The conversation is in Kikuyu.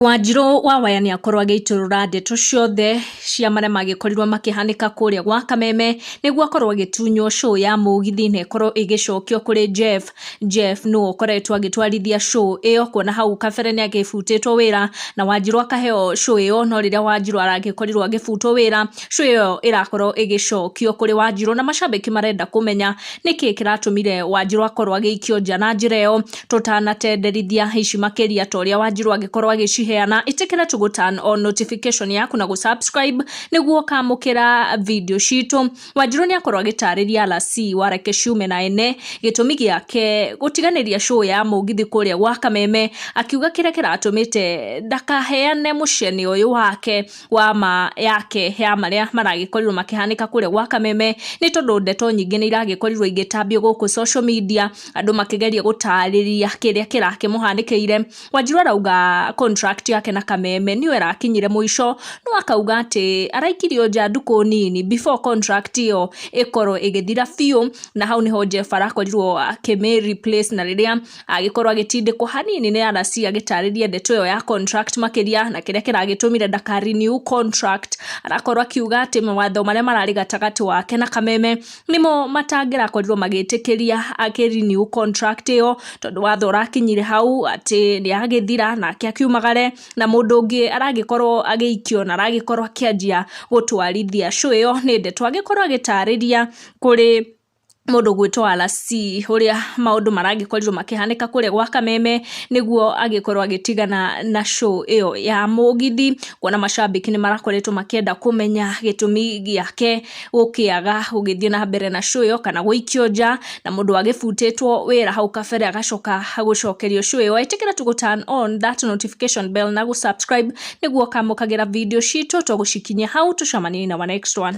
Wanjirũ wa waya nĩ akorwo agĩitũrũra ndeto ciothe cia marĩa magĩkorirwo makĩhanĩka kũrĩa gwa kameme nĩguo akorwo agĩtunywo show ya mũgithi na ĩkorwo ĩgĩcokio kũrĩ Jeff. Jeff nĩwe ũkoretwo agĩtwarithia show ĩyo kuona hau kabere nĩ agĩbutĩtwo wĩra na wanjirũ akaheo show ĩyo no rĩrĩa wanjirũ aragĩkorirwo agĩbutwo wĩra show ĩyo ĩrakorwo ĩgĩcokio kũrĩ wanjirũ na macambĩki marenda kũmenya nĩkĩĩ kĩratũmire wanjirũ akorwo agĩikio nja na njĩra ĩyo. tũtanatenderithia ici makĩria ta ũrĩa wanjirũ angĩkorwo agĩciheana ĩtĩkĩra tũgũ turn on notification yaku na gũsubscribe nĩguo ũkamũkĩra video citũ wanjirũ nĩ akorwo agĩtarĩria rasi wareke ciume na ene gĩtũmi gĩake gũtiganĩria show ya mũgithi kũrĩa gwa kameme akiuga kĩrĩa kĩratũmĩte ndakaheane mũcene ũyũ wake wa ma yake ya marĩa maragĩkorirwo makĩhanĩka kũrĩa gwa kameme nĩ tondũ ndeto nyingĩ nĩ iragĩkorirwo igĩtambio gũkũ social media andũ makĩgeria gũtarĩria kĩrĩa kĩrakĩmũhanĩkĩire wanjiru arauga contract yake na kameme nĩyo ĩrakinyire mũico no akauga atĩ araikirio nja ndukũ nini before contract ĩyo ĩkorwo ĩgĩthira biũ na hau nĩho Jeff arakorirwo akĩmĩ replace na rĩrĩa agĩkorwo agĩtindĩkwo hanini nĩ RC agĩtarĩria ndeto ĩyo ya contract makĩria na kĩrĩa kĩragĩtũmire ndaka renew contract arakorwo akiuga atĩ mawatho marĩa mararĩ gatagatĩ wake na kameme nĩmo matangĩrakorirwo magĩtĩkĩria akĩ renew contract ĩyo tondũ watho ũrakinyire hau atĩ nĩ agĩthira nake akiumagare na mũndũ ũngĩ aragĩkorwo agĩikio na aragĩkorwo akĩanjia gũtwarithia show ĩyo nĩ ndeto agĩkorwo agĩtarĩria kũrĩ mũndũ ũgwĩtwo RC ũrĩa maũndũ maragĩkorirwo makĩhanĩka kũrĩa gwa Kameme nĩguo agĩkorwo agĩtigana na show ĩyo ya mũgithi, kuona macambĩki nĩ marakoretwo makĩenda kũmenya gĩtũmi gĩake gũkĩaga gũgĩthiĩ na mbere na show ĩyo kana gũikio nja, na mũndũ wagĩbutĩtwo wĩra hau kabere agacoka gũcokerio show ĩyo. Ĩtĩkĩra tũ gũ turn on that notification bell na gũ subscribe nĩguo ũkamũkagĩra video citũ tũgũcikinyia hau. Tũcemanie in our next one.